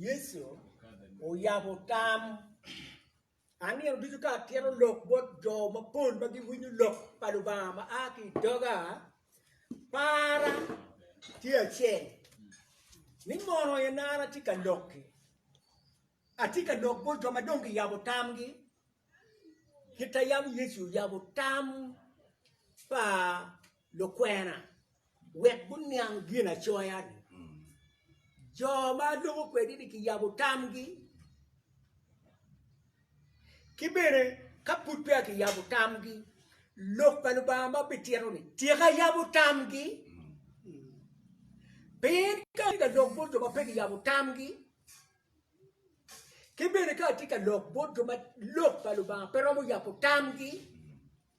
Yecu oyabo tam ma nino ducu ka tito lok bot jo mapol ma giwinyo lok pa Lubanga ma a ki i doga. Para tye acel ni mono en an atye ka lok-ki, atye ka lok bot jo ma dong giyabo tamgi kit ma yam Yecu oyabo tam pa lukwena. wek guniang Ginacoya-ni. Jo ma loko kwedi-ni kiyabo tamgi. Ki bene ka pud peya kiyabo tamgi, Lok pa Lubanga ma bitito-ni tika yabo tamgi? Pien ka atye ka lok bot jo ma pe kiyabo tamgi, ki bene ka atye ka lok bot jo ma Lok pa Lubanga pe romo yabo tamgi,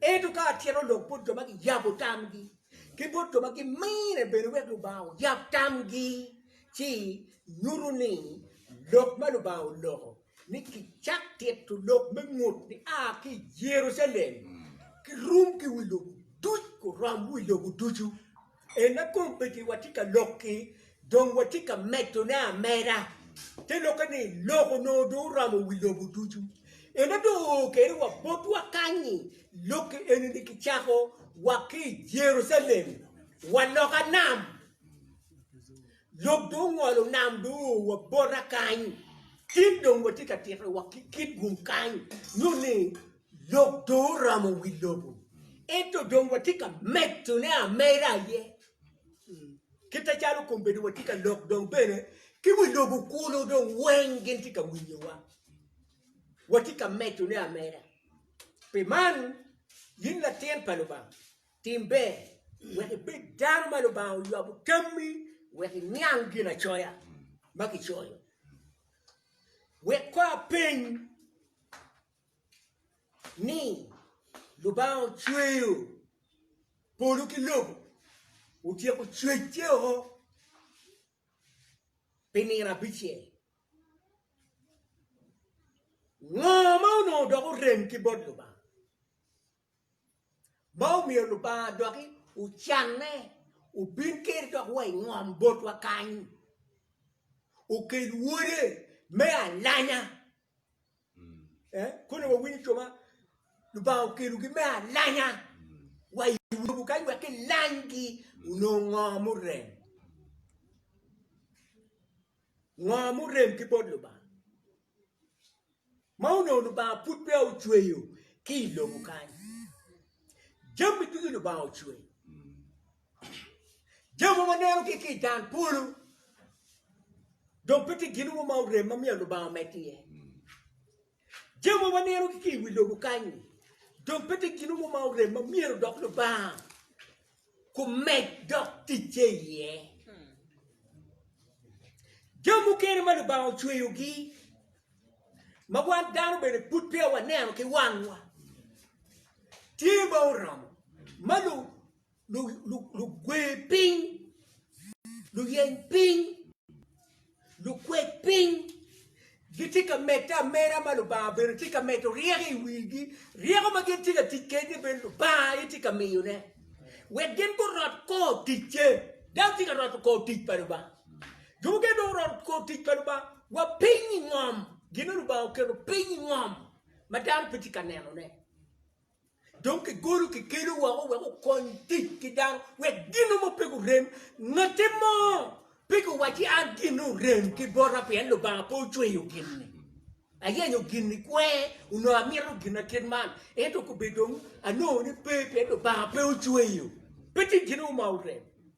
Ento ka atyero lok bot jo ma giyabo tamgi, ki bot jo ma gimine bene wek Lubanga oyab tamgi, ci nyuto ni lok ma Lubanga oloko ni kicak tito lok me ngut ni a ki i Jerucalem, kirum ki wi lobo duc, kurom wi lobo ducu. Ena kong bed ni watye ka lok-ki dong watye ka medone ameda, te lokke ni lok onongo dong oromo wi lobo ducu. Ena dong oo kene wa botwa kany-nyi. Lok-ki eni-ni kicako wa ki i Jerucalem, wa loka nam. Lok dong ongolo nam dong oo wa bota kany. Cen dong watye ka tito wa ki kit gum kany nyo ni, Lok dong oramo wi lobo, ento dong watye ka medone ameda aye. Kite calo kombedo watye ka lok dong bene ki wi lobo kunu dong weng gin tye ka winyowa. Watye ka medone ameda. Pi man, in latin pa Lubanga, tim ber wek ibed dano ma Lubanga oywabo tammi wek iniang Ginacoya ma kicoyo. Wek kor apeny. ni Lubanga ocweyo polo ki lobo, otyeko cwecce woko pi nino abicel. Ngo ma onongo dok orem ki bot Lubanga ma omiyo Lubanga doki ocanne obin kene dok wa i ngom botwa kany, okel Wode me alanya? Kone wawinyo jo ma Lubanga okelogi me alanya wa i lobo kany wek kilanygi onong ngo murem. Ngo murem ki bot Lubanga. Ma onong Lubanga pud peya ocweyo ki i lobo kany. Jami ducu Lubanga ocweyo. Jo mogo neno ki i tang polo dok pe tye gin mogo ma orem ma myero Lubanga omed iye. Jo mogo neno ki i wi lobo kany dong pe tye gin mogo ma orem ma myero dok Lubanga kumed dok ticce iye. Jo mukene ma Lubanga ocweyogi ma wan dano bene pud peya waneno ki wangwa tye ma oromo ma lugwer piny luyeny piny lukwec piny gitye ka medde ameda ma lubanga obedo tye ka medo ryeko i wigi ryeko ma gin tye ka tic kene bene lubanga aye tye ka miyone wek gin gurot kor ticce dano tye ka roto kor tic pa lubanga jo mukene dong guroto kor tic pa lubanga wa piny i ngom gin ma lubanga oketo piny i ngom ma dano pe tye ka nenone. Dong kigolo kikelu woko wek okony tic ki dano wek gino mo pe gurem. Ngati mo pe giwacci an ginne orem ki bota pien Lubanga pe ocweyo ginni. Ayenyo ginni kwe onongo amito gina kit man ento kobe dong anongo ni pe pien Lubanga pe ocweyo. Pe tye gin mo ma orem.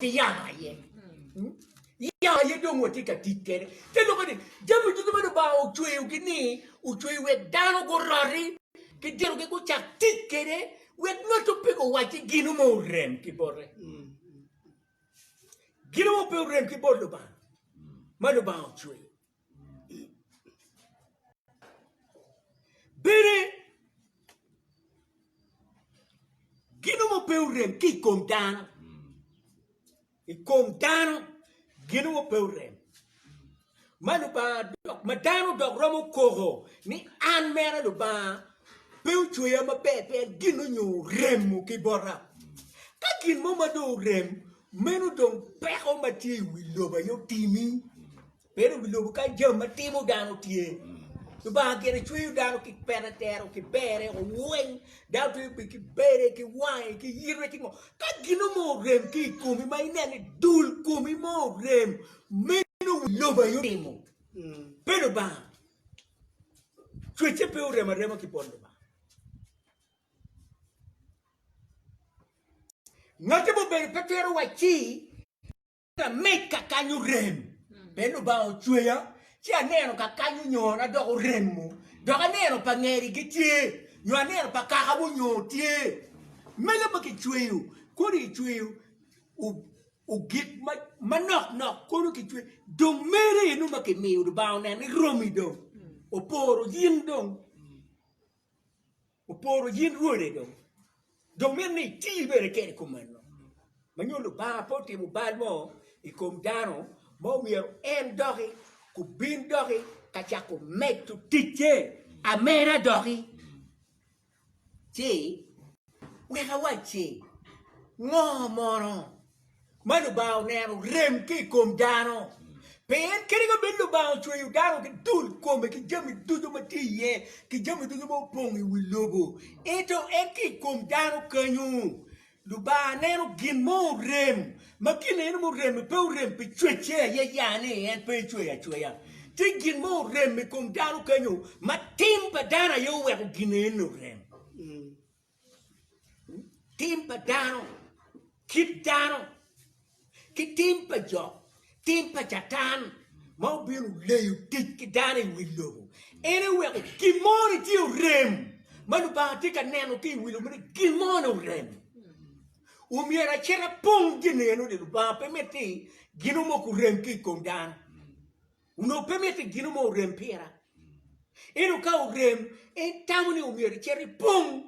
ki yamo aye. Hmm? Yamo aye dong watye ka tic kede. Te loko ni jami duto ma Lubanga ocweyogi ni ocweyo wek dano guroti ki dinogi gucak tic kede wek ngatto pe guwacci gino ma orem ki bote. Hmm. Gino ma pe orem ki bot Lubanga ma Lubanga ocweyo. Bene, gino mo pe orem ki i kom dano, i kom dano gino mo pe orem. Ma Lubanga dok ma dano dok romo koko ni an mere Lubanga pe ocweya maber pien gin onyo oremo ki bota. Ka gin mo ma dong orem meno dong peko ma tye i wi lobo aye otimi. Pien obi lubo ka jam ma timo dano tye. Lubanga gire cweyo dano ki pere tero ki bere oweny dano twe be ki bere ki wange ki yitwe ki ngo ka gino mo orem ki i komi ma inene dul komi mo orem meno wi lobo aye otimo pe lubanga cwece pe orem arema ki pol lubanga ngate mubedo pe twero wacci Lameg kakany orem, pien Lubanga ocweya, ci aneno kakany onyona dok oremo, dok aneno pa ngeri gitye, nyo aneno pa kaka wonyoo tye. Mege ma kicweyo, kodi kicweyo gik manok nok kono kicweyo, dong mere eno ma kimiyo Lubanga oneno ni romi dong, oporo in dong. Oporo yin Wode dong, dong mito ni iti bene kede i kom meno. Ma nyo Lubanga pe otimo bal mo i kom dano ma omyero en doki ku bin doki ka cako medo ticce ameda doki. Ci wek awac ci, ngo mono? ma Lubanga oneno rem ki i kom dano. Pien kadi ka bed Lubanga ocweyo dano ki dul kome ki jami ducu ma tye iye ki jami ducu ma opong i wi lobo, ento en ki i kom dano kenyo Lubanga neno gin mo orem ma gin eno murem-mi pe orem pi cwecce aye ya ni en pe ecweyo acweya. Tye gin mo orem i kom dano kenyo ma tim pa dano aye oweko gin eno orem. Tim pa dano, kit dano, ki tim pa jo, tim pa Catan ma obino leyo tic ki dano i wi lobo. En eweko gin mo ni tye orem ma Lubanga tye ka neno ki i wi lobo ni gin mo ni orem. Omyero acit apong gin eno ni Lubanga pe mitte gino mo kurem ki i kom dano. Onongo pe mitte i gino mo orem pira. Ento ka orem, en tamo ni omyero icit ipong.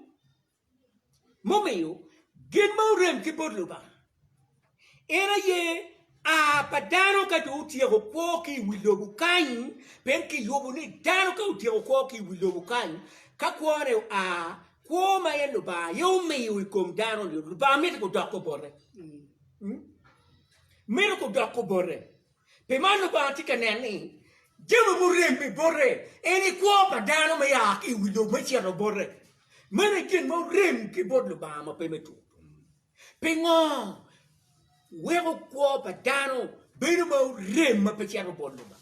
Mumiyo, gin ma orem ki bot Lubanga en aye a pa dano ka jo otyeko kwo ki i wi lobo kany, pien kiyubo ni dano ka otyeko kwo ki i wi lobo kany, ka kwone oa, kwo ma en Lubanga aye omiyo i kom dano-ni, Lubanga mito kudok obote. Mito kudok obote. Pi man Lubanga tye ka nen ni jami murem i bote en i kwo pa dano me ya ki i wi lobo me cito bote. Meno aye gin ma orem ki bot Lubanga ma pe me tur-ru. Pingo weko kwo pa dano bedo ma orem ma pe cito bot Lubanga?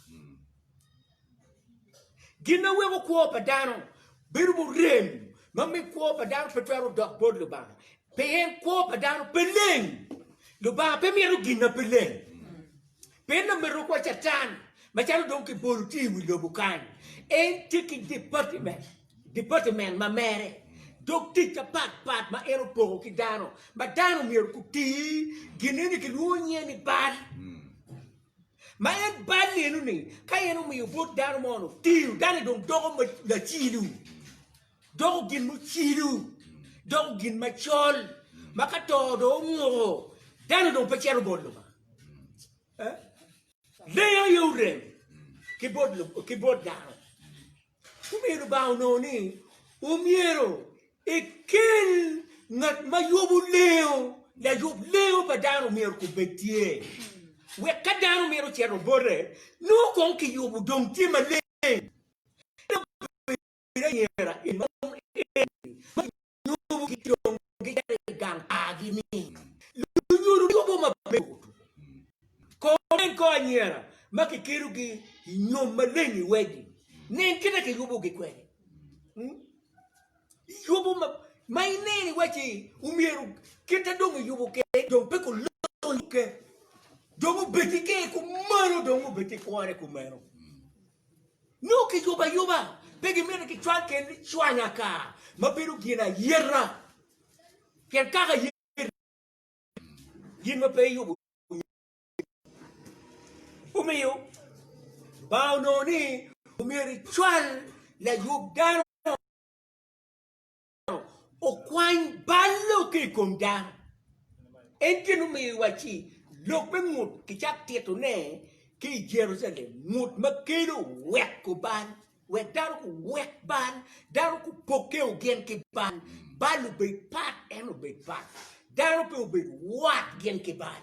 Gin ma weko kwo pa dano bedo murem ma miyo kwo pa dano pe twero dok bot Lubanga, pien kwo pa dano pe leng. Lubanga pe mito gin ma pe leng. Pien lameruku wa Catan, macalo dong kibolo tye i wi lobo kany, en tye ki departiment, departiment ma mere, dog tic apat pat ma en opoko ki dano, ma dano myero guti gin eni kilwongo nyinge ni bal. Ma en bal lelu ni, ka en omiyo bot dano mo no tiyo, dano-ni dong doko lacilo, doko gin mucilo, doko gin macol, ma ka to dong onguko, dano dong pe cito bot Lubanga. Eh? Lengo aye orem ki bot, ki bot dano. Omiyo Lubanga onongo ni omyero ekel ngat ma yubo lengo, layub lengo pa dano omyero kong bed tye, wek ka dano mito cito bote, nongo kong kiyubo dong tye maleng. En obedo anyira en ma nongo en ma lunyubu ki dong gicito i gang pargi ni lunyodo ki obwo ma pe otum. Kor nen kor anyira ma kikelogi i nyom maleng i wedi. Nen kit ma kiyubogi kwede. Yubo ma ma ineno iwaci omyero kit ma dong iyubo kwede dong pe kulonyo kene dong obed ki ker kumalo dong obed ki kwone kumeno. Nyo ki yubo ayuba pe gimito ki cwal kel ni cwanya ka ma bedo gin ayeta kel kaka ayeta gin ma pe yubo omiyo bang onongo ni omyero icwal layub dano okwany bal lokke i kom dano. En gin omiyo iwacci lok me ngut kicak titone ki i Jerucalem, ngut ma kelo weko bal, wek dano kuwek bal, dano kupokke ogin ki bal, bal obed pat, en obed pat, dano pe obed wat gin ki bal.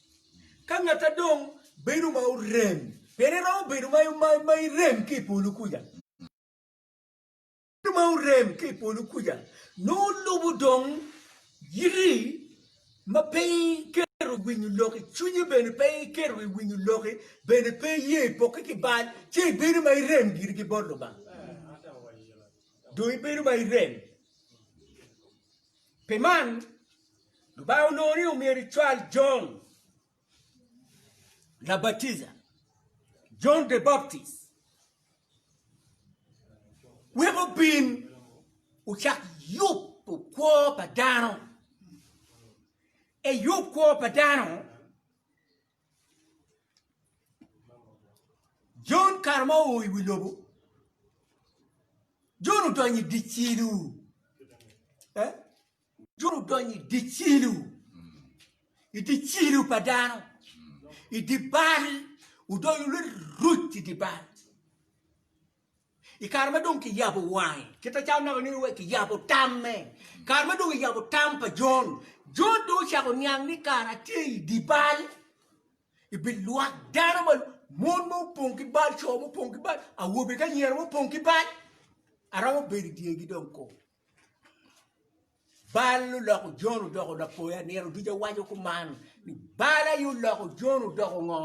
Ka ngatta dong bedo ma orem, pien eromo bedo ma irem ki i polo kuca, bedo ma orem ki i polo kuca nongo lubo dong yiti ma pe iketo i winyo lok i cwinyi bene pe iketo i winyo loki bene pe iye i poki ki bal ci ibedo ma irem giri ki bot Lubanga dong ibedo ma irem. Pi man, Lubanga onongo ni omyero ecwal Jon Labatiza, John the Baptist, wek obin ocak yubo kwo pa dano. Eyub kwo pa dano. Jon kare ma oo i wi lobo, Jon odonyo i dye cilo, Jon odonyo i dye cilo, i dye cilo pa dano, i dye bal, odonyo niruc i dye bal. I kare ma dong kiyabo wange, kit acalo anaka nino wek kiyabo tamme, kare ma dong kiyabo tam pa Jon, Jon dong ocako niang ni kara tye i dye bal, i bi lwak dano ma mon ma opong ki bal, co ma opong ki bal, awobe ki anyira ma opong ki bal, aromo bedo i dyegi dong kong. Bal oloko Jon odoko lapoya. Nino duca waco kuman ni bal aye oloko Jon odoko ngo?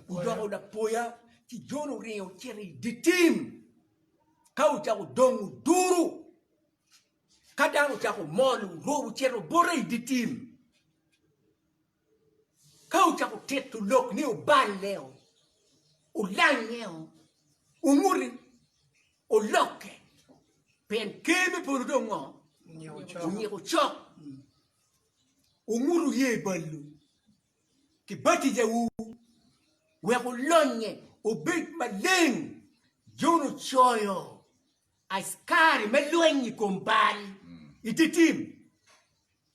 Odoko lapoya. Ci Jon oringo ocito i dye tim ka ocako dongo duru. Ka dano ocako mol orubo ocito bote i dye tim. Ka wucako tito lok ni oballeo, olangeo, onguti, olokke, pien Ker me polo dong ngo? Onyiko cok. Wungutu ye balwu ki batijawu wek olonye obed maleng, Jon ocoyo. Askari me lweny i kom bal i dye tim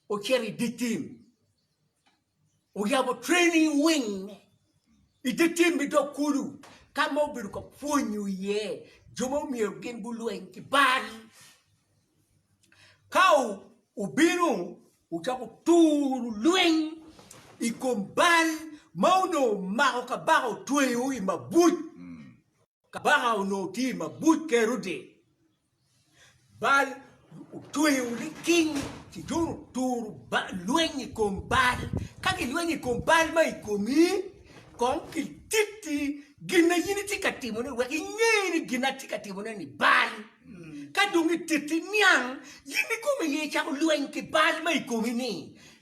ocito i dye tim, oyabo training wing i dye tim me dog kulu ka ma obedo ka pwonyo iye jo ma myero gin gulweny ki bal. Ka obino ocako turo lweny i kom bal ma onongo omako kabaka otweyo i mabuc. Kabaka onongo tye i mabuc Kerode, Baal otweyo liking ci dong oturo lweny i kom Baal. Ka gilwenyo i kom Baal ma i komi, kong kititi gin ma in itye ka timone wek inge ni gin ma atye ka timone-ni Baal. Ka dong gititi niang, in ikome aye icako lweny ki Baal ma i komi-ni.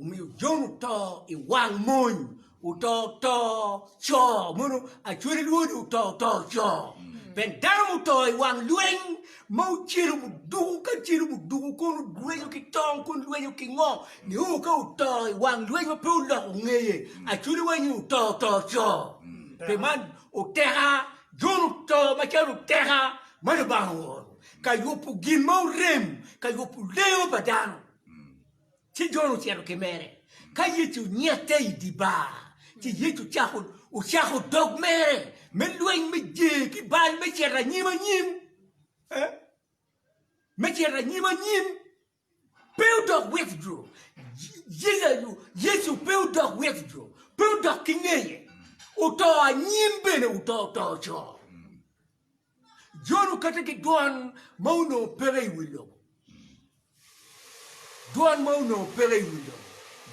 Omiyo Jon oto i wang mony, oto oto co mono acwele lwod oto oto co. Pien dano muto i wang lweny ma ocelo muduku ka celo muduku kun olwenyo ki tong kun lwenyo ki ngo nio ka oto i wang lweny ma pe oloko ngeye acwele wanyi oto oto co. Pi man oteka Jon oto macalo oteka ma Lubanga ooro ka yubo gin ma orem ka yubo lengo pa dano. Ci Jon ocito ki mere ka Yecu nyette i dye bar, ci Yecu ocako dog mere me lweny me jer ki bal me cito anyim anyim, me cito anyim anyim. Pe odok wek jo Yecu pe odok wek jo pe odok ki ngeye, oto anyim bene oto oto co. Jon kata ki dwan ma onongo peke i wi lobo. Dwan ma onongo peke i wi lobo.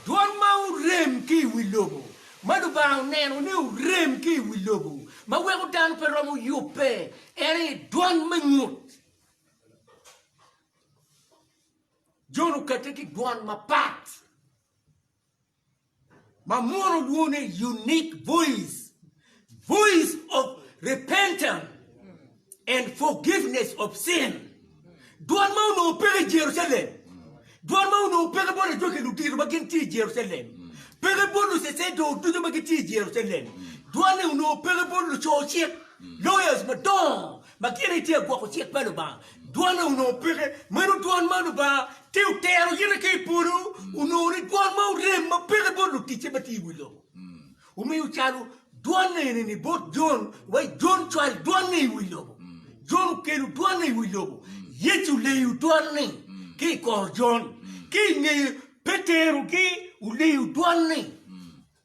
Dwan ma orem ki i wi lobo, ma Lubanga oneno ni orem ki i wi lobo, ma weko dano pe romo yubbe, en aye dwan me ngut. Jon okate ki dwan mapat. ma mono olwongo ni unique voice voice of repentance and forgiveness of sin dwan ma onongo peke i Jerucalem dwan ma onongo peke bot ajwaki ludito ma gin tye i Jerucalem peke bot lucecedong ducu ma gitye i Jerucalem dwan-ni onongo peke bot luco cik lawyers madongo Ma gin aye tye agwoko cik pa Lubanga. Dwone onongo peke. Meno dwon ma Lubanga tye otero yite ki i polo onongo ni dwon ma orem ma peke bot luticce ma tye i wi lobo. Omiyo calo dwon eni-ni bot Jon, wa i Jon cwal dwon-ni i wi lobo. Jon okelo dwon-ni i wi lobo. Yecu oleyo dwon-ni ki i kor Jon. Ki i ngeye Petero gi oleyo dwon-ni.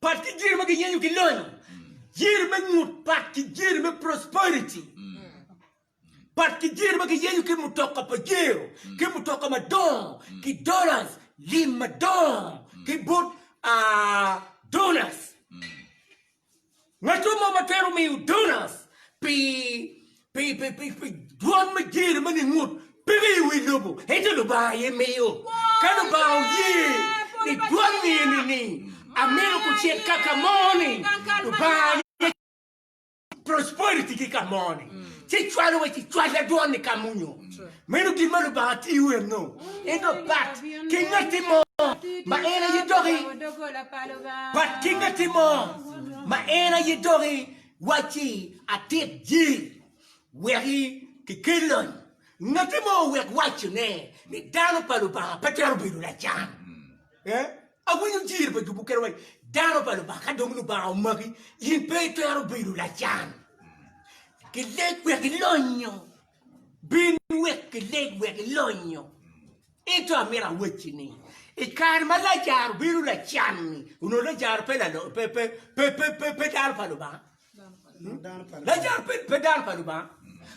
Pat ki jiri ma giyenyo ki lonyo, jiri me ngut, pat ki jiri me prosperity, pat ki jiri ma giyenyo ki mutoka pajero, ki mutoka madongo, ki dollars, lim madongo, ki bot uh, donors. Ngecwa mo ma twero miyo donors pi pi pi pi pi dwon me jer ma ningut peke i wi lobo, ento Lubanga aye miyo. Ka Lubanga oye ni dwon eni ni amito kucit ka ka mo ni, Lubanga aye cwalo prosperity ki ka mo ni, ci cwalo wa ci cwal da dwon ni ka munyo. Meno gin ma Lubanga tiyo enno, en dong pat ki ngatti mo ma en aye doki, pat ki ngatti mo ma en aye doki wacci atit ji weki ki kel lony. Ngatti mo owek wacci ne ni dano pa Lubanga pe twero bedo lacan. Eh? Awinyo jir pa jubu kene wacci dano pa Lubanga ka dong Lubanga omaki in pe itwero bedo lacan. Ki leg wek ilonyo. Bin wek ileg wek ilonyo. Ento amito awacci ni, i kare ma Lajaro bino lacan-ni, onongo Lajaro pe dano pa Lubanga? Lajaro pe dano pa Lubanga.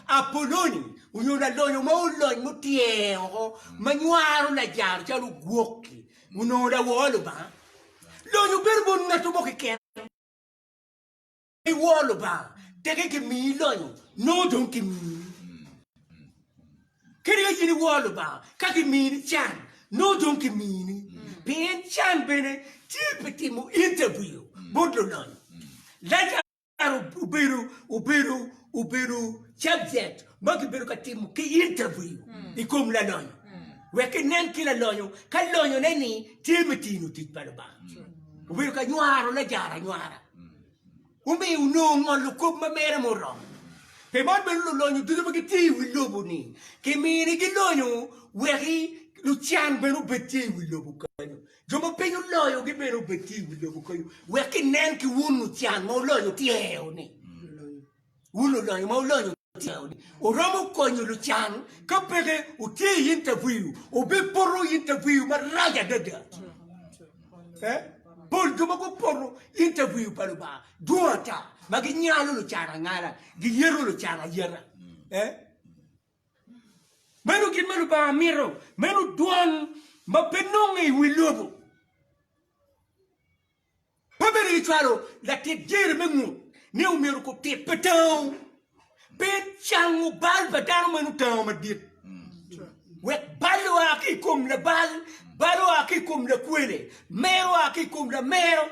Apoloni onyo lalonyo mo olony mutyer woko ma nywaro Lajaro calo ogwok-ki, onongo lawor Lubanga? Lonyo bedo bot ngatto mo keken. I wor Lubanga, teke kimiyi lonyo, nongo dong kimiyi. Kadi ka in iwor Lubanga, ka kimini can, nongo dong kimini. Pien can bene tye pi timo interview bot lulonyo. Lajar obedo obedo obedo subject ma kibedo ka timo ki interview i kom lalonyo, wek kinen ki lalonyo ka lonyone-ni tye me tino tic pa Lubanga. Obedo ka nywaro Lajar anywara. omiyo onongo ngolo kop ma mere muromo. Pi man bene lulonyo ducu ma gitye i wi lobo-ni kiminigi lonyo weki lucan bene obed tye i wi lobo kenyo, jo ma piny oloyogi bene obed tye i wi lobo kenyo, wek kinen ki wun lucan ma wulonyo tyer-ru-ni. Wun olonyo ma wulonyo tyeno ni wuromo konyo lucan, ka peke wutye i interview wubipoto interview marac adada. Pe pol jo ma gupoto interview pa Lubanga dwong ata ma ginyalo lucan angala, giyeto lucan ayeta. Meno gin ma Lubanga mito, meno dwan ma pe nonge i wi lobo. Pe bedo ni cwalo latit jere me ngut ne omyero kub tit pe tango. Pe cango bal pa dano meno otango madit. Wek bal oa ki i kom labal, bal oa ki i kom lakwele, mer oa ki i kom lamero,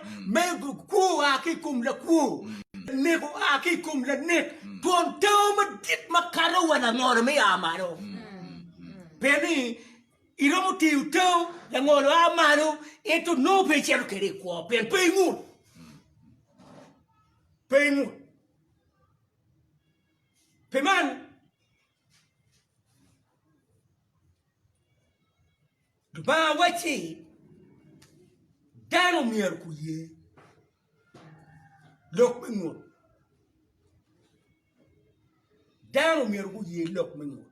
kwo oa ki i kom lakwo, lanek oa ki i kom lanek, twon tango madit makato wa langolo me ya malo. Pe ni. Iromo tiyo tau, langolo a malo, ento nongo pe icito kwede i kwo pien pe ingut. Pe ingut. Pi man, Lubanga wacci dano myero guye lok me ngut. Dano myero guye lok me nyuto.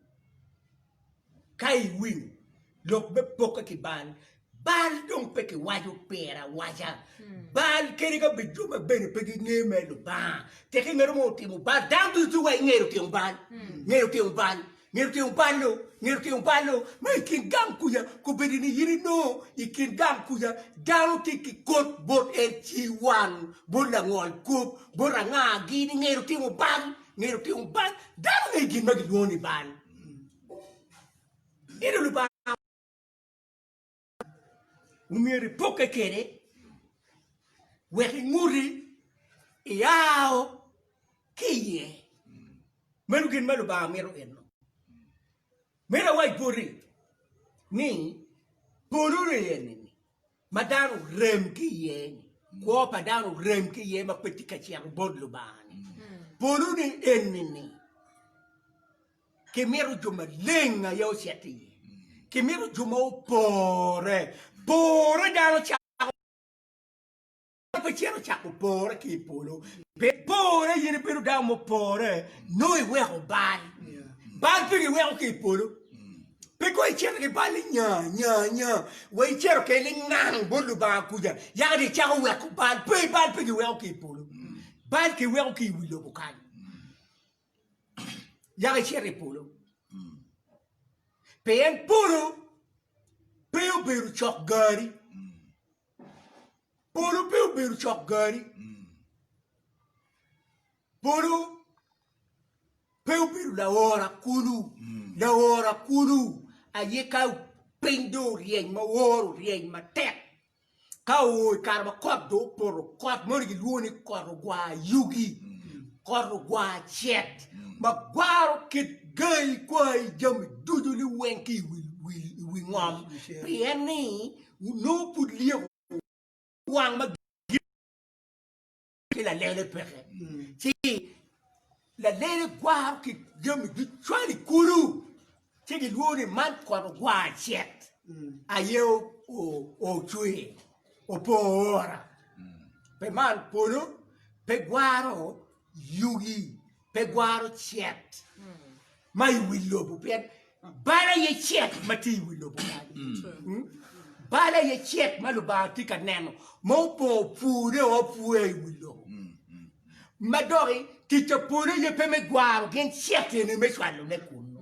Ka iwinyo lok me poke ki bal, bal dong pe kiwaco pire awaca. Bal kadi ka bed jo ma bene pe ginge mere Lubanga, tek ingeto mo otimo bal, dano ducu wa ingeyo otimo bal, ngeyo otimo bal. Ngeto tyeng balo, ngeto tyeng balo ma i kin gang kuca kobedo ni in inongo i kin gang kuca dano tye ki kot bot en ciwan, bot langol kop, bot anga gi ni ngeto timo bal, ngeto timo bal, dano ngeyo gin ma gilwongo ni bal. omyero ipokke kwede wek inguti iao ki iye. Meno gin ma Lubanga mito enno. Meno awac boti ni polo eni ma dano orem ki iye ni, kwo pa dano orem ki iye ma pe tye ka cito bot Lubanga-ni. Polo-ni eni ni Kimito jo maleng aye ocit i iye. Kimito jo ma opore. Pore dano cako Dano pe cito cako pore ki i polo. Pe pore in ibedo dano mupore nongo iweko bal. Bal pe giweko ki i polo. Pe kong icito ki bal ni nya nya nya wa icito kene lingang bot Lubanga kuca yaka dong icako weko bal. Pe bal pe giweko ki i polo. Bal kiweko ki i wi lobo kany. yako icito i polo pien polo pe obedo cok gari polo pe obedo cok gari polo pe obedo laora kulu laora kulu aye ka piny do oryeny ma woro oryeny matek Ka oo i kare ma kot dong opoto, kot moni gilwongo ni kot ogwar yugi, kot ogwar cet ma gwaro kit gayi, kwayi, jami ducu liweng ki i wi ngom pien ni nongo pud lyeko wang ma ki lalele peke, ci lalele gwaro ki jami ducwal i kulu, ci gilwongo ni man kot ogwar cet aye ocwe opo ora, pe man polo pe gwaro yugi. pe gwaro cet ma i wi lobo pien bal aye cet ma tye i wi lobo kany. Bal aye cet ma Lubanga tye ka neno ma opor pure o pure i wi lobo. Ma doki tic pa polo aye pe me gwaro gin cet eni me cwalone kunu.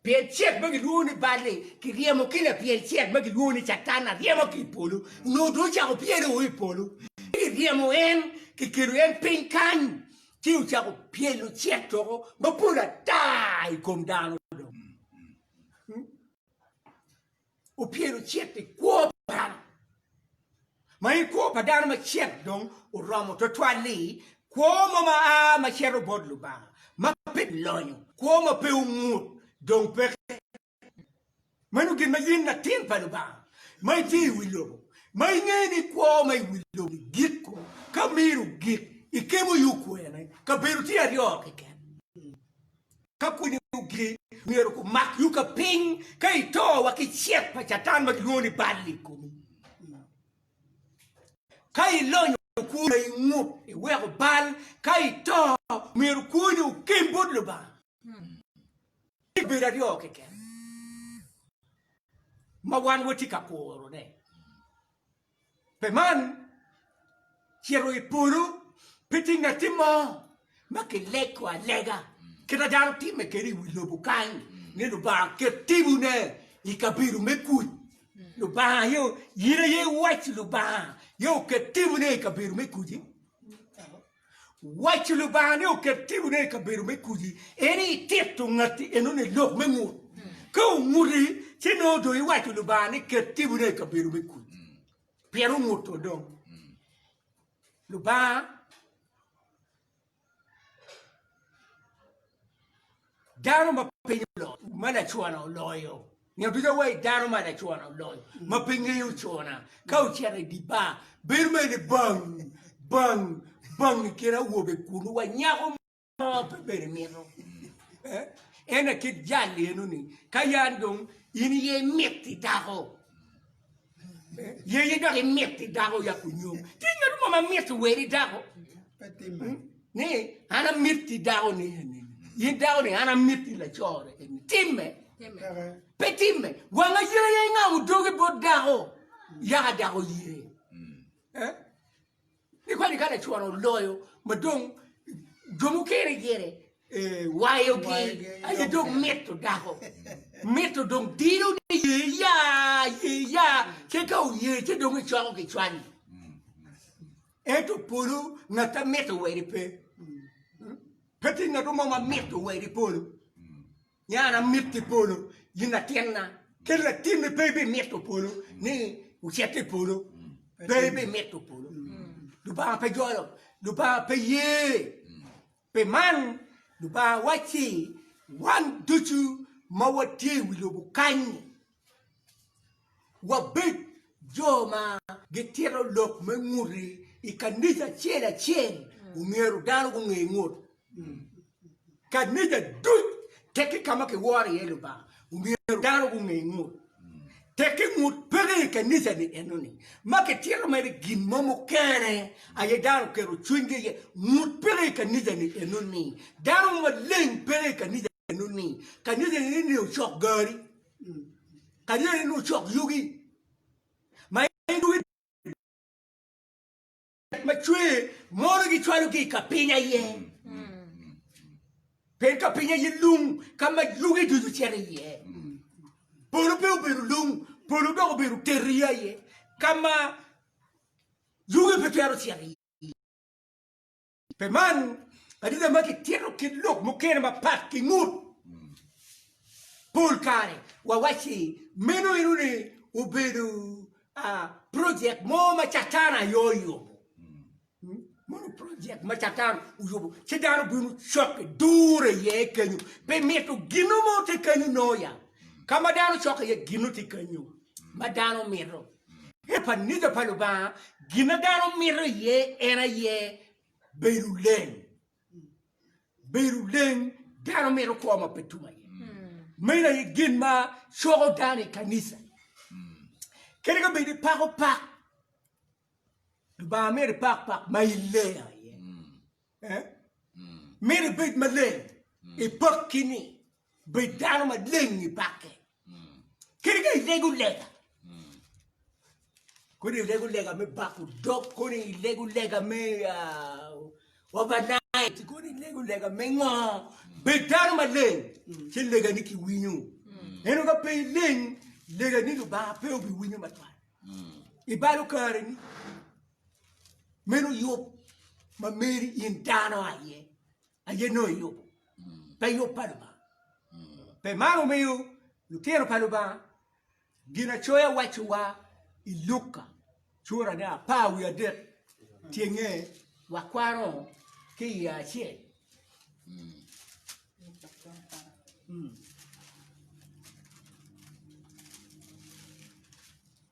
Pien cet ma gilwongo ni bal-li kiryemo ki lapyel cet ma gilwongo ni Catan aryema ki i polo, onongo dong ocako pyele o i polo. Ci kiryemo en, kikelo en piny kany, ci ocako pyelo cet doko mapol ata i kom dano dong. opyelo cit i kwo pa dano, ma en kwo pa dano ma cit dong oromo twatwal-li, kwo mo ma a ma cito bot Lubanga, ma pe lonyo, kwo ma pe ongut, dong peke. Meno gin ma in latin pa Lubanga, ma itye i wi lobo, ma ingeyo ni kwo ma i wi lobo-ni giko ka miro gik, ikemo yo kwene, kabedo tye aryo keken. ka pwonyo gigi, myero gumak yuka piny ka ito wa ki cet pa Catan ma kilwongo ni bal i komi. Ka ilonyo kwoni ma ingut, iweko bal, ka ito, myero kwoni okem bot Lubanga. Tye kabedo aryo keken ma wan watye ka kurone. Pi man, cito i polo pe tye ngatti mo ma kilego alega kite dano timme kede i wi lobo kany ni Lubanga ket timone i kabedo me kuc. Lubanga aye, in aye iwaco Lubanga aye oket timone i kabedo me kuc-ci? Waco Lubanga ni oket timone i kabedo me kudi en i tito ngatti enoni i lok me ngut. Ka onguti ci nongo dong iwaco Lubanga ni ket timone i kabedo me kudi. Pien onguto dong. Lubanga Dano ma piny oloyo, ma lacona oloyo. Nyo ducu awayi dano ma lacona oloyo, ma pe ngeyo cona. Ka ocito i di bar, bedo mere ni bang, bang, bang i kin awobe kunu wa nyako mo pe bene mito. Eh? Ene kit jal eno ni, ka yan dong in iye imiti dako, Yeye dok imit ki dako ya ku nyom. Ti ngat mo ma mit ki weri dako. Hmm? Ni an amit ki dako ni eni. Yin dako ni an amit ki lacore eni. Timme. Pe timme. Wanga yeye ingamo dogi bot dako. Yaka dako ye. Eh? Ni kadi ka lacwara oloyo ma dong jo mukene gire wayogi aye dong mito dako mito dong dilo ni ye ya ye ya ce ka oye ce dong icwako ki cwali ento polo ngat amito weri pe pe ti ngat mo ma mito weri polo Nya an amito i polo, in latinna, kadi latinni pe ibimito polo ni wucit i polo, pe ibimito polo. Lubanga pe jolo, Lubanga pe ye. Pi man, Lubanga wacci wan ducu ma watye i wi lobo kany-ni, wabed jo ma gitito lok me ngute. I kanija acel acel omyero dano gunge ngut. Kanija duc teki ka ma kiworo iye Lubanga omyero dano gunge ngut. Teki ngut peke i kanija-ni enoni ma kitito mere gin mo mukene aye dano oketo cwinygi iye. Ngut peke i kanija-ni enoni. Dano mo maleng peke i kanija-ni. Meno ni, ka nyothoni ni nio cok gari, ka nyothoni ni nio cok yugi, ma en yugi ma cwer mono gicwalo ki i ka piny aye, pien ka piny aye lung ka ma yugi ducu cito iye. Polo pe obedo lung, polo dok obedo teri aye, ka ma yugi pe twero cito iye. Pi man, adita ma kitito kit lok mukene mapat ki ngut pol kare wawacci meno eno ni obedo projek mo ma Catan aye oyubo. Mono projek ma Catan oyubo ci dano bino cokke dure iye kenyo pi mito gino mo tye kenyo noya ka ma dano cokke iye gino tye kenyo ma dano mito. I kanica pa Lubanga, gin ma dano mito iye en aye bedo leng. Bedo leng, dano mito kwo ma pe tum aye. Meno aye gin ma coko dano i kanica. Kadi ka bedi pako pak, Lubanga mito ipak pak ma ileng aye. Myero ibed maleng, ipaki ni, bed dano maleng ipake. Kadi ka ilego lega, kodi ilego lega me bako dog, kodi ilego lega me overnight, kodi ilego lega me ngo, bed dano maleng ci legani kiwinyo. Ento ka pe ileng, legani Lubanga pe obiwinyo matwal. I balo kareni. meno yub ma meri in dano aye aye nongo iyubo pe yub pa Lubanga pe man omiyo lutino pa Lubanga Ginacoya wacciwa i Luka curane apar wiye adek tyenge wakwano ki iye acel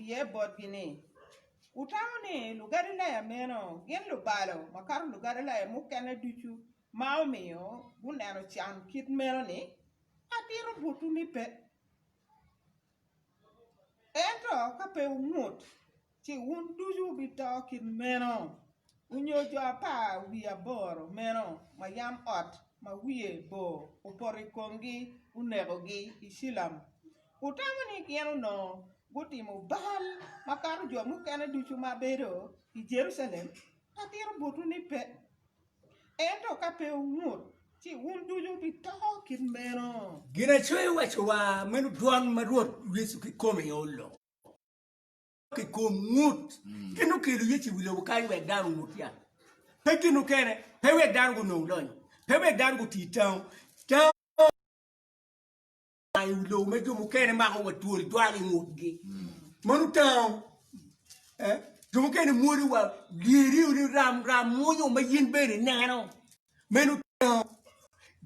iye botgi ni, Wutamo ni Lugalilaya meno gin lubalo makato Lugalilaya mukene ducu ma omiyo guneno can kit meno-ni? Atito botwu ni pe. Ento ka pe wungut, ci wun ducu wubito kit meno, onyo jo apar wiye aboro meno ma yam ot ma wiye bor opoto i komgi onekogi i Cilam. Wutamo ni gin onongo gutimo bal makato jo mukene ducu ma bedo i Jerucalem? Atito botwu ni pe. Ento ka pe wungut, ci wun ducu wubito kit meno. Ginacoya owaco wa, meno dwan ma Rwot Yecu kikome olo ki kom ngut, gin okelo Yecu i wi lobo kany wek dano ongut ya. Pe gin okene, pe wek dano gunong lonyo, pe wek dano guti tango tango. I wi lobo ma jo mukene mako wa twol jwalo i ngutgi. Mano tango. Eh? Jo mukene mwodi wa lyeri ni ram ram mwonyo ma yin bene neno. Meno tango.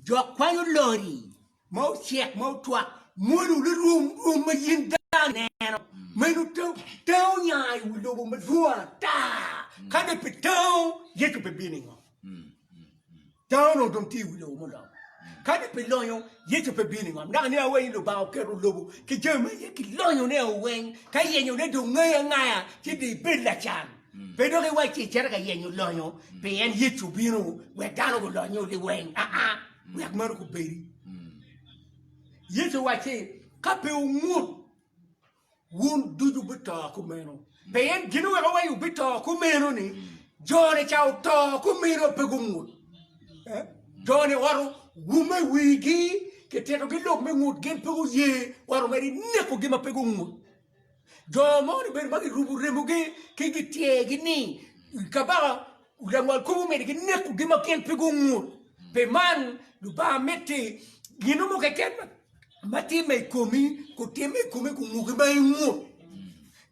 Jo kwanyo lori ma ocek ma otwak mwodi ni rum rum ma yin dang neno. Meno tango. Tango nya i wi lobo madwong ata. Ka de pe tango, Yecu pe bino ingo. Dano onongo dong tye i wi lobo muloc. Kadi pi lonyo, Yecu pe bino i ngom. Dok aniang weny ni Lubanga oketo lobo ki jami ma iye ki lonyone o weng ka yenyone dong ngayo angaya ci dong ibed lacan. Pe dok iwac ci icito ka yenyo lonyo pien Yecu obino wek dano gulonyo liweng aa, wek meno kubedi. Yecu owacci, Ka pe wungut, wun ducu wubito kumeno. Pe en gin oweko wa i wubito kumeno ni jone ca oto kumeno pe gungut. Eh? Jone waro wume wigi kititogi lok me ngut gin pe guye waro mere ineko gi ma pe gungut. Jo mo ni bedo ma girubu remogi ki gityegi ni kabaka langwal kubu meri gineko gi ma gin pe gungut. Pe man Lubanga miti gin mo keken ma timme i komi kutimme i komi kunguki ma ingut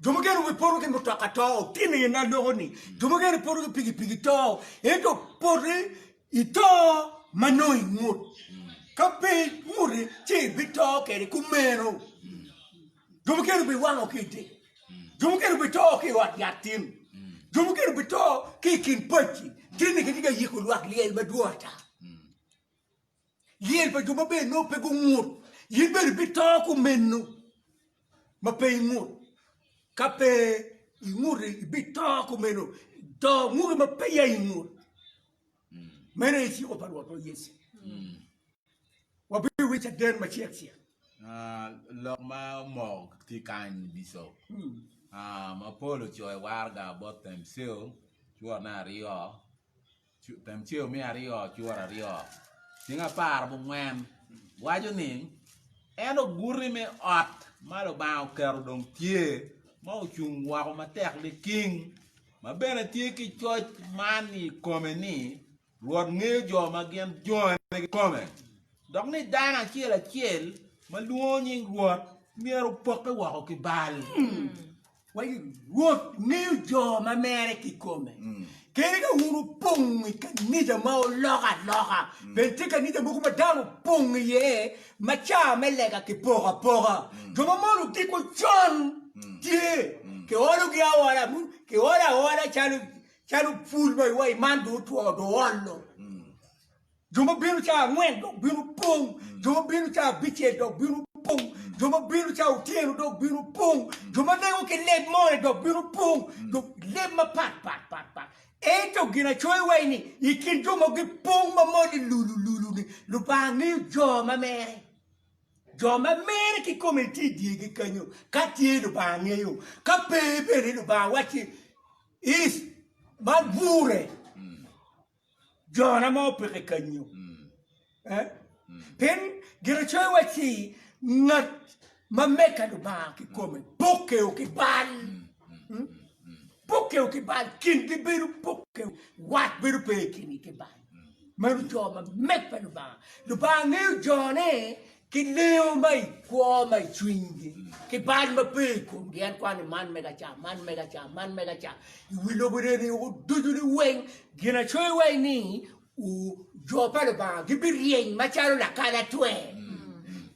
jo mukene wipoto ki mutoka to tini in aloko ni jo mukene poto ki pikipiki to ento poti ito ma nongo ingut ka pe inguti ci ibito kede kumeno jo mukene biwango ki idi jo mukene bito ki ot yat tin jo mukene bito ki kin pacci tini kitye ka yiko lwak lyel madwong ata Lyel pa jo maber nongo pe gungut, in bene ibito kumeno ma pe ingut. Ka pe inguto, ibito kumeno, to nguto ma peya ingut. Meno aye ciko pa Rwotwa Yecu. Wabiwinyo caden macek cek. Ah, lok ma omoko tye kany Bicop. Ah, ma pol ocoyo waraga both themselves, cwotne aryo. Temceo me aryo curo aryo cing apar bungwen waco ni, En oguti me ot ma Lubanga oketo dong tye, ma ocung woko matek liking, ma bene tye ki coc man i kome ni, Rwot ngeyo jo ma gin jone kikome, dok ni dano acel acel ma lwongo nying Rwot myero opokke woko ki bal. Wa i Rwot ngeyo jo ma mere kikome. Kadi ka wun wupong i kanija ma oloko aloka, bed tye kanija mogo ma dano opong iye ma ca me lega kipoko apoka, jo ma mono giko con tye, kiologi aola, abut, kiolo aola calo calo pul ma iwaci man dong otwo, dong oolo. Jo ma bino cawa angwen dok bino pong, jo ma bino cawa abicel dok bino pong, jo ma bino cawa otyeno dok bino pong, jo ma lengo ki leb more dok bino pong, jo leb mapat pat pat pat. Ento ginacoya iwaci ni, i kin jo ma gipong ma molle lulu lulu-ni, Lubanga ngeyo jo ma mere. Jo ma mere kikome tye i dyegi kenyo, ka tye Lubanga ngeyo, ka pe bene Lubanga wacci, Is, man gure. Jona ma opeke kanyu. Pien Ginacoya wacci, Ngat ma meka Lubanga kikome pokeo ki bal, pokeo ki bal, kingi bedo pokeo, wat bedo pe i kingi ki bal. Meno jo ma meka Lubanga. Lubanga ngeyo jone. Ki leyo ma i kwo ma i cwinygi, ki bal ma pe i komgi, en kwano ni man mega ca, man mega ca, man mega ca, i wi lobo neni oko ducu ni weng. Ginacoyo wa ni, u, jo pa Lubanga gibiryeny macalo lakalatwer.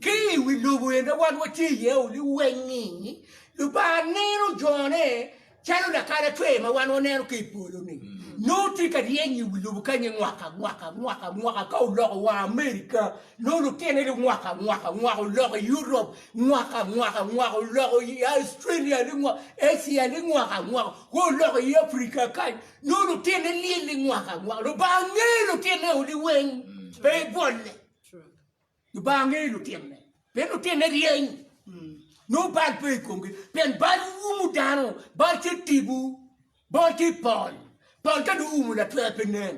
Ki i wi lobo en ma wan watye iye-u ni weng-ngi, Lubanga neno jone Calo lakana cwer ma wan waneno ki i polo-ni, nongo tye ka ryeny i wi lobo kany-nyi mwaka mwaka mwaka mwaka. Ka oloko wa Amerika, nongo lutine li mwaka mwaka mwaka, oloko i Europ mwaka mwaka mwaka, oloko i Australia li mwaka, Asia li mwaka mwaka, wa oloko i Afrika kany, nongo lutine lyel li mwaka mwaka. Lubanga ngeyo lutine-o liweng, pe bwolle. Lubanga ngeyo lutinone, pien lutinone ryeny, nongo bal pe i komgi, pien bal umu dano, bal tye tipo, bal tye pol, pol ka dong oumo latwer pe nen.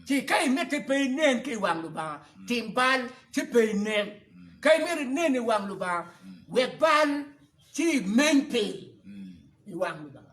Ci ka imite pe inen ki i wang Lubanga, tim bal ci pe inen. Ka imito inen i wang Lubanga, wek bal ci imeny piny i wang Lubanga.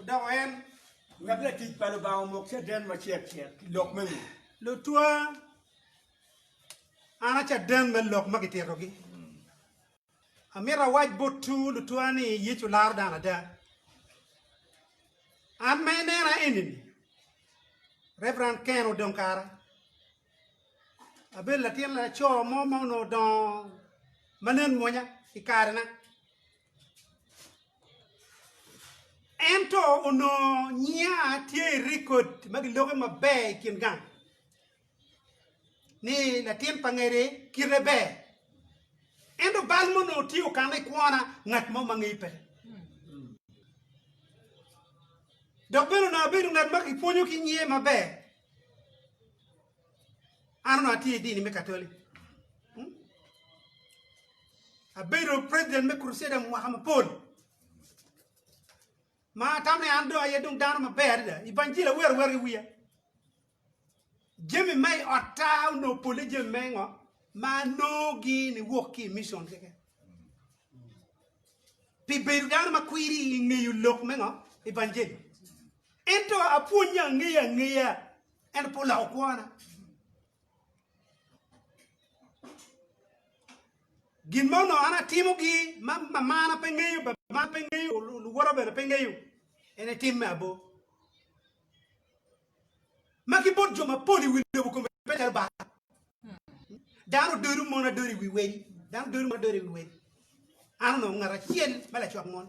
Odoko en, wek latic pa Lubanga omok caden macek cek ki lok me ngom. Lutwa, an a caden me lok ma kititogi. Amito awac botwu lutwa ni Yecu laro dano ada. An ma inena eni-ni, Reverend Ken Odong Kara, abedo latin laco mo ma onongo odongo ma nen mwonya i karena. Ento onongo nyinga tye i rekod ma gilokke maber i kin gang ni latin pa ngede kite ber. Ento bal ma onongo tye okanne i kwona ngat mo ma ngeyi pe. Dok bene onongo abedo ngat ma kipwonyo ki nge maber. An onongo atye i dini me Katoli. Hmm? Abedo president me Crusader mwaka mapol. Ma tam ni an dong aye dong dano maber adada. Ibanjil awer awer ki wiya. Jami me otta onongo pole jami me ngo ma anogi ni wok ki mission keke. Pi bedo dano ma kwiri i ngeyo lok me ngo? Ibanjil. Ento apwonye angeya angeya Ento pe oloko kwona. Gin ma onongo an atimogi ma mamana pe ngeyo, babana pe ngeyo, luwota bene pe ngeyo, en etim me abo. Ma ki bot jo mapol i wi lobo kome pe lelo ba. Dano dodo mon adodo i wi wedi, dano dodo mon adodo i wi wedi. An onongo ngat acel ma lacwak mon.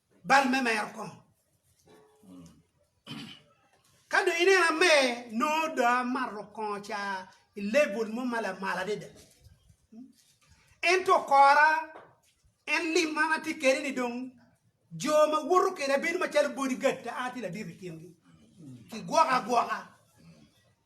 Bal me mero kom. Ka dong ineno amer, nongo dong amato kongo ca i level mo ma lamal adada. Ento okora, en lim ma an atye kwede ni dong jo ma woto kweda bedo macalo bodyguard ta, an atye ladit i kingi. Kigwoka agwoka.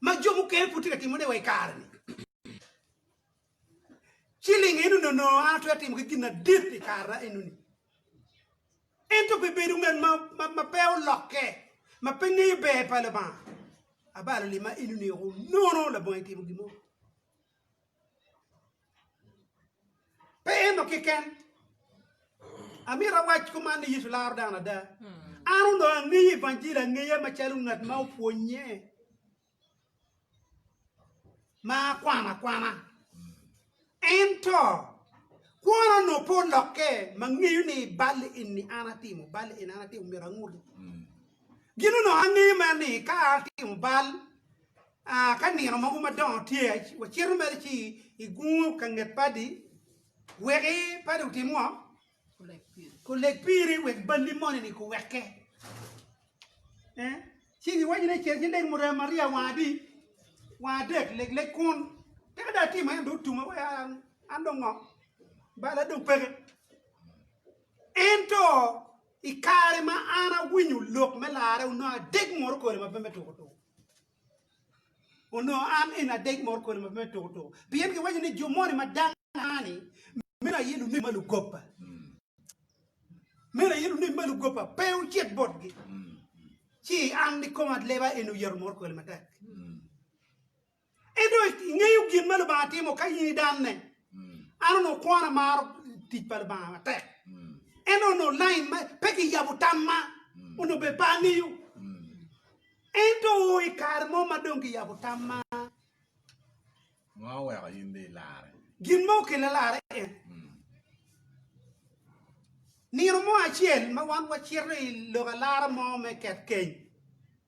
ma jo mukene pud tye ka timone wa i kare-ni. Ci linge eno ni onongo an atwero timo ki gin madit i kara enoni. Ento pi bedo ngat ma pe olokke, ma pe ngeyo ber pa Lubanga, abalo limma enoni woko nono labongo itimo gin mo. Pe ento keken. Amito awac kuman ni Yecu laro dano ada. An onongo angeyo Evangili angeya macalo ngat ma opwonnye ma akwano akwana. Ento kwona onongo pe olokke ma ngeyo ni bal eni an atimo, bal eni an atimo myero angute. Gin onongo angeyo mere ni ka atimo bal A Ka nino mogo madongo tye, wacito mere ci i gungo ka nget padi, weki padi otim ngo? Kuleg piri wek balli moni-ni kuwekke. Eh? Ci giwaco ni cer ci leg murem ariya wang adi? Wang adek, leg leg kun. Tika dong atimo en dong otume wek an, an dong ngo? Balla dong peke. Ento. I kare ma an awinyo lok me larre onongo adeg moro kodi ma pe me tuko tuko. Onongo an en adeg moro kodi ma pe me tuko tuko. Pien giwaco ni jo moni ma dangani meno aye lunemi ma lugopa. Meno aye lunemi ma lugopa pe ocit botgi. Ci an kikoma leba en oyeto moro kodi matek. Ento ingeyo gin ma Lubanga timo ka in idanne? An onongo kwona amaro tic pa Lubanga matek. Ento onongo lain ma pe kiyabo tamma onongo bene pe angeyo. Ento i kare mo ma dong kiyabo tamma, Ngo oweko in bed larre? gin ma okella larre en, nino mo acel ma wan wacito i lok alara mo me ket keny,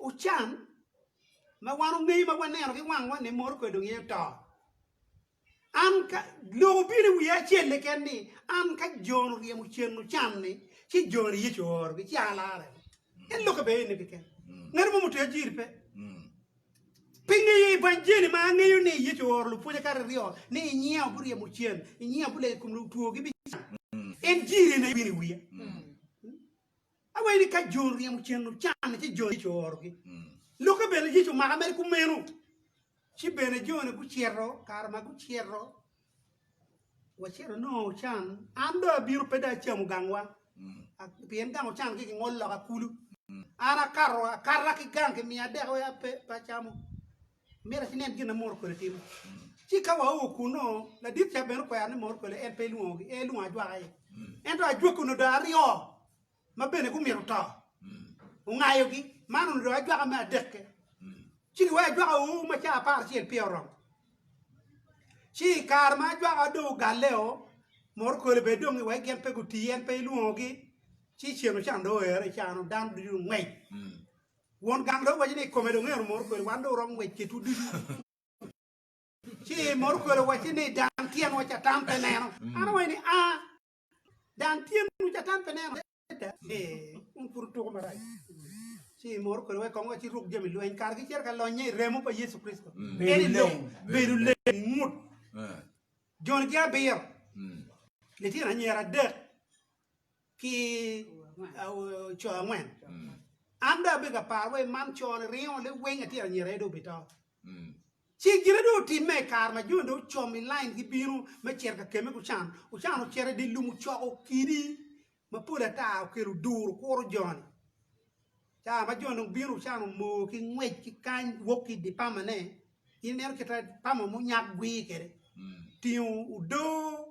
Ocam ma wan ongeyo ma waneno ki wangwa ni moro kwede dong ye oto. An ka lok obino i wiya acel keken ni an ka Jon oryemo cen ocam ni ci Jon ni Yecu ooro gi ci alarre. En lok abe eni keken. Ngati mo mutweyo jiri pe. Pi ngeyo evanjeli ma angeyo ni Yecu ooro lupwonye kare aryo ni i nyinga oburyemo cen, i nyinga obulego i kom lutwo gi bicang. En jiri eni aye obino i wiya. Awee ni ka jo ryemo cen ocanne ci jo Yecu oorogi. Lokke bene Yecu omaka mere kumeno. Ci bene jone gucito, kare ma gucito, wacito nongo ocan, an dong abino pe dong acamo gangwa, pien gang ocan ki kingolo loka kulu. An akato akata ki gang kimiya dek wek ape pe acamo. Myero ci nen gin ma moro kwele timo. Ci ka wao kunnu, ladit ca bene okwero ni moro kwele en pe elwongogi, en elwongo ajwaka aye. Ento ajwaka onongo dong aryo ma bene gumito to, ongayogi. Man onongo dong ajwaka me adekke. Ci giweko ajwaka ur ma caa apar acel peya oromo. Ci i kare ma ajwaka dong ogalleo, moro kwele bene dong iwek gin pe gutii, en pe elwongogi. Ci ceng ocan dong oero i caa-nu, dano ducu dong ongwec. Won gang dong owaco ni, I kome dong en omoto kwede, wan dong oromo ngwec kedwu ducu. Ci moto kwede owacci ni, Dang tyenwa Catan pe neno. An awaco ni, A, dang tyenwu Catan pe neno? Adada! Ee, wun pud wutuko marac. Ci moto kwede wek kong wa ci ruk jami lweny kargi ciro ka lonnye i remo pa Yecu Kricito. Eni lok, bedo leng, ngut, joni ki abiro, litino anyira adek. ki co angwen an dong abedo ka paro wai man co ni ringo liwing atyero anyira aye dong obito ci gine dong otimme i kare ma jo dong ocom i lain gibino me cito ka kemme gucan ocan ocito i di lum ocoko kidi ma pol ata okelo duru kuro joni ca ma jo dong bino ocan omoo ki ngwec ki kany wok ki idi pama ne in ineno kita pama munyak gwir kede tingo odoo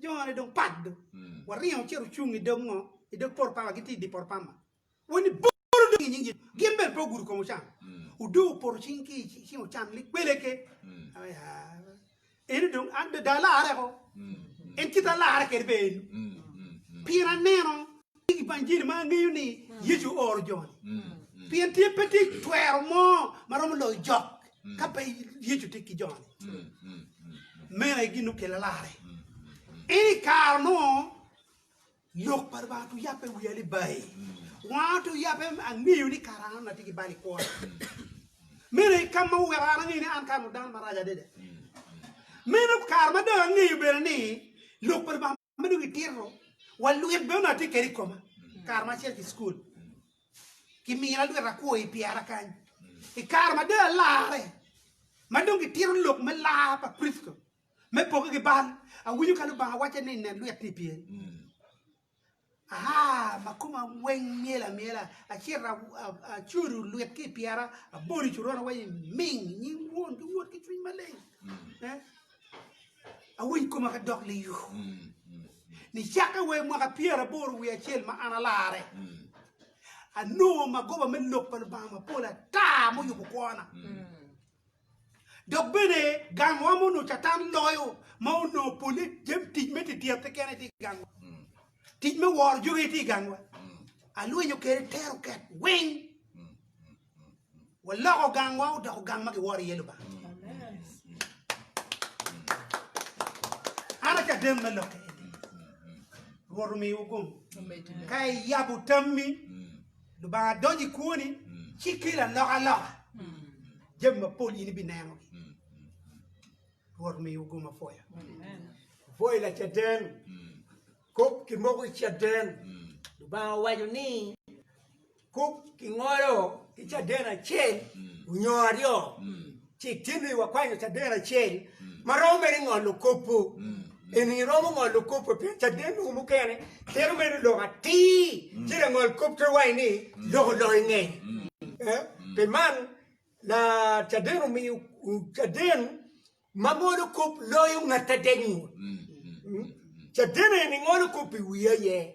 Jone dong pat do. Waringo wacito ocung i dog ngo? I dog poro pama, gitye i di poro pama. Wani bolo dong i nying Yecu. Gin bene pe ogudo kom ocan. Odong opoto cing ki cing ocan lik bele ke. Aya. Eni dong an be da alarre ko. En kite alarre kede be eni. Pien aneno I Ibanjili ma angeyo ni Yecu ooro jo-ni, pien tye pe tye twero mo ma romo loyo jok ka pe Yecu tye ki jo-ni. Meno aye gin okele larre. Ento i kare mo, Lok pa Lubanga otye oyabbe i wiya ni bayi. Wanga otye oyabbe, angeyo ni kara an atye ki bal i kwona. Meno aye kam ma oweko an angeyo ni an kara-nu dano marac adada. Meno kare ma dong angeyo bene ni Lok pa Lubanga. ma dong itito wa lwit bene onongo atye kede i koma kare ma acel ki cukul kimina lwit akwo i pyera kany i kare ma dong alarre ma dong kitito lok me lar pa Kricito me poke ki bal awinyo ka Lubanga wacce ni nen lwit ni pyeri Aa ma koma weng myel amyela, acito acudu lwit ki i pyera, abolo i coron awaco ni, Ming! I nying Won ki Wod ki Cwiny Maleng. Awiny koma ka dok liyo. Nicakke wa i mwaka pyeraboro wiye acel ma an alarre, anongo magoba me Lok pa Lubanga mapol ata muyubo kwona. Dok bene gangwa ma onongo Catan loyo ma onongo polle jami tic me dyerte kene tye i gangwa. Tic me woro jo aye tye i gangwa. Alwenyo kwede teroket weng. Waloko gangwa odoko gang ma kiworo iye Lubanga. An acaden me lokke eni. Rwot omiwa gum. Ka iyabo tammi. Lubanga donyo i kwoni ci kelo alokaloka, jami mapol in ibinenogi. Rwot omiyo ugo mapwoya. Pwoyo Lacaden, kop ki moko ki caden. Lubanga owaco ni kop ki ngolo ki caden acel nyo aryo. Ci itino i wa kwanyo caden acel ma romo mere i ngolo kopo. Eni iromo ngolo kopo pien caden mogo mukene tero mere lok atir, ci langol kop twero waco ni lok olonyo ngeye. Pi man, la caden omiyo caden ma ngolo kop loyo ngat adek ngut. Caden eni ngolo kop i wi aye.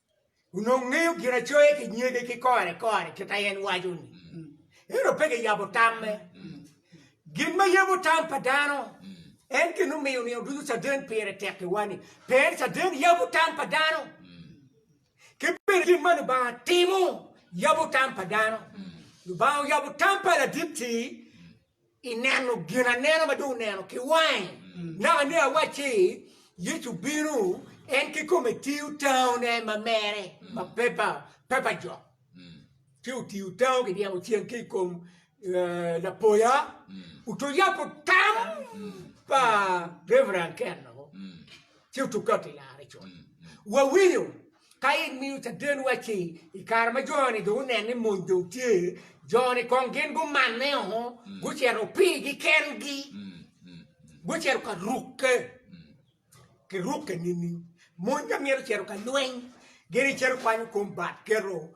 onongo ngeyo Ginacoya ki nyege ki kore kore kit ma en waco-ni, ento pe kiyabo tamme. Gin ma yabo tam pa dano en gin omiyo nino ducu caden pire tekkiwa-ni. Pien caden yabo tam pa dano, ki bene gin ma Lubanga timo yabo tam pa dano. Lubanga oyabo tam pa Ladit-ti I neno gin anena ma dong oneno ki wange, naka ni awacci, Yecu bino, en kikome tiyo tango ne ma mere ma pepa pepa jo, ci otiyo tango ki dyemo ceng ki ikom lapoya oto yabo tam pa Reverend Ken-o ci otuka ki lare col. Wawinyo. Ka in miyo caden wacci i kare ma jo-ni dong oneno ni mony dong tye, jo-ni kong gin gumanne o, gucito opigi kengi, gucito ka rukke ki rukke nining? Mony ka myero ocito ka lweny, gin gicito kwanyo kom bat keto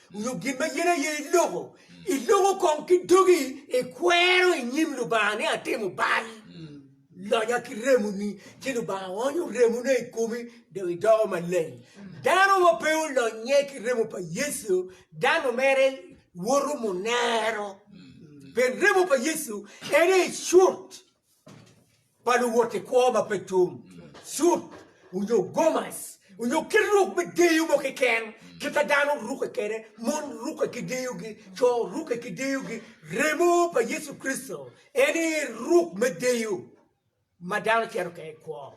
nyo gin ma in aye iloko, iloko kong ki dogi, ikwero i nyim Lubanga ni atimo bal, lonya ki remoni, ci Lubanga onyo remone i komi, dong idoko maleng. Dano ma pe olonye ki remo pa Yecu, dano mere woto munero, pien remo pa Yecu en aye cut. pa luwot i kwo ma pe tum, cut, onyo gomas, onyo kit ruk me deyo mo keken, kita dano ruke kede, mon ruke ki deyogi, co ruke ki deyogi, remo pa Yecu Kricito en aye ruk me deyo ma dano cito kede i kwo.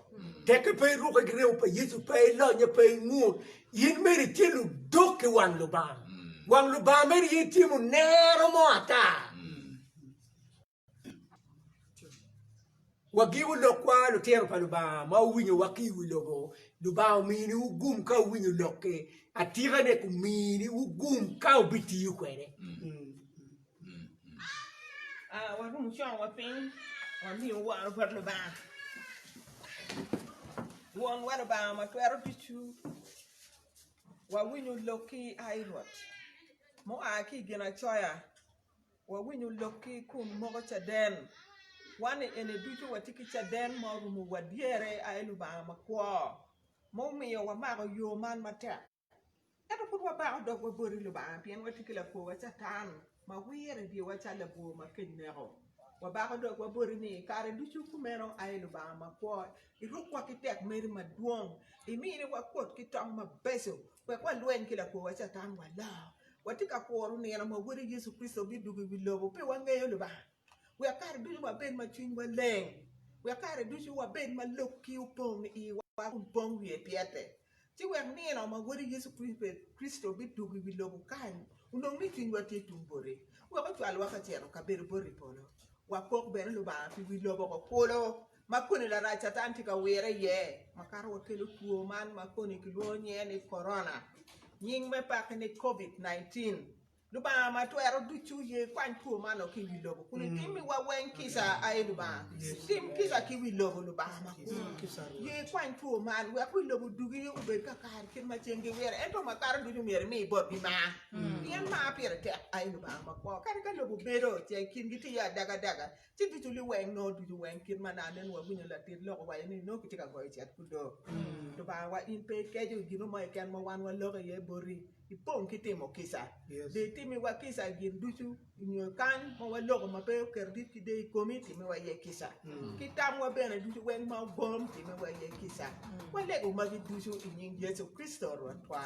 Teke pe iruke ki remo pa Yecu, pe ilonye, pe ingut, in mere itye ludok ki wang Lubanga. Wang Lubanga mere aye tye munero mo ata. Wagiwu lokwa lutino pa Lubanga ma wuwinyowa ki i wi lobo, Lubanga omini wu gum ka wuwinyo lokke, atikane kumini wu gum ka wubitiyo kwede. Warum cowa piny wamiu woro bot Lubanga, Wonwa Lubanga ma twero ducu, wawinyo lokki a i Rwot, mua ki i Ginacoya Wawinyo lokki kun moko caden. Wan i eni ducu watye ki caden ma orumo wa dyere i aye Lubanga makwo ma omiyo wamako yo man matek. Ento pud wabako dogwa boti Lubanga pien watye ki lakwowa Catan ma wire i dyewa calo labwor ma kec neko. Wabako dogwa boti ni kare ducu kumeno aye Lubanga makwo. Irukwa ki tek meri madwong, imiyo ni wakut ki tong mabeco wek walweny ki lakworwa Catan walo. Watye ka kuro nino ma Wodi Yecu Kricito bidwogo i wi lobo pi wangeyo Lubanga, wek kare ducu wabed ma cwinywa leng, wek kare ducu wabed ma lok-ki opong i iwa kun pong wiye pyete. ci wek nino ma Wode Yecu Kricito bidwogo i wi lobo kany onong ni cwinywa tye tung bote, wek ocwalwa ka cito ka bedo bot i polo, wapok bene Lubanga pi wi loboko kulu ma koni Larac Catan tye ka wire iye, makato wakelo two man ma koni kilwongo nyinge ni Korona, nying me pake ni Covid 19. Lubanga ma twero ducu ye kwany two man lok ki wi lobo kun itimiwa weng kica ai Lubanga. Tim kica ki wi lobo Lubanga ma kulu. Ye kwany two man wek wi lobo dugi obed ka kare kit ma ceng giwire ento ma kato ducu myero imi botgi mar. Pien mar pire tek ai Lubanga ma kwo. Kadi ka lobo bedo ce kingi tye adaga daga ci ducu liweng noo ducu weng kit ma nano nongo wawinyo latit lok owaco ni nongo kitye ka goyo cet ku doo. Lubangawa in pe ikeco i gin mo keken ma wan waloko iye boti. Ipong ki timo kica. Dong itimiwa kica i gin ducu, nyo i kany ma waloko ma pe oketo dit ki deyo i komi, timiwa iye kica. Ki tamwa bene ducu weng ma ogom, timiwa iye kica. Walego magi ducu i nying Yecu Kricito Rwotwa.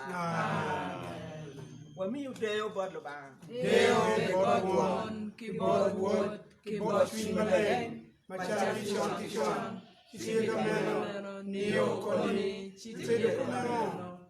Wamiyo deyo bot Lubanga. Deyo obed bot Won, ki bot Wod, ki bot Cwiny Maleng, macalo ki con ki con, ci ka meno, nio koni, ci tye doko meno.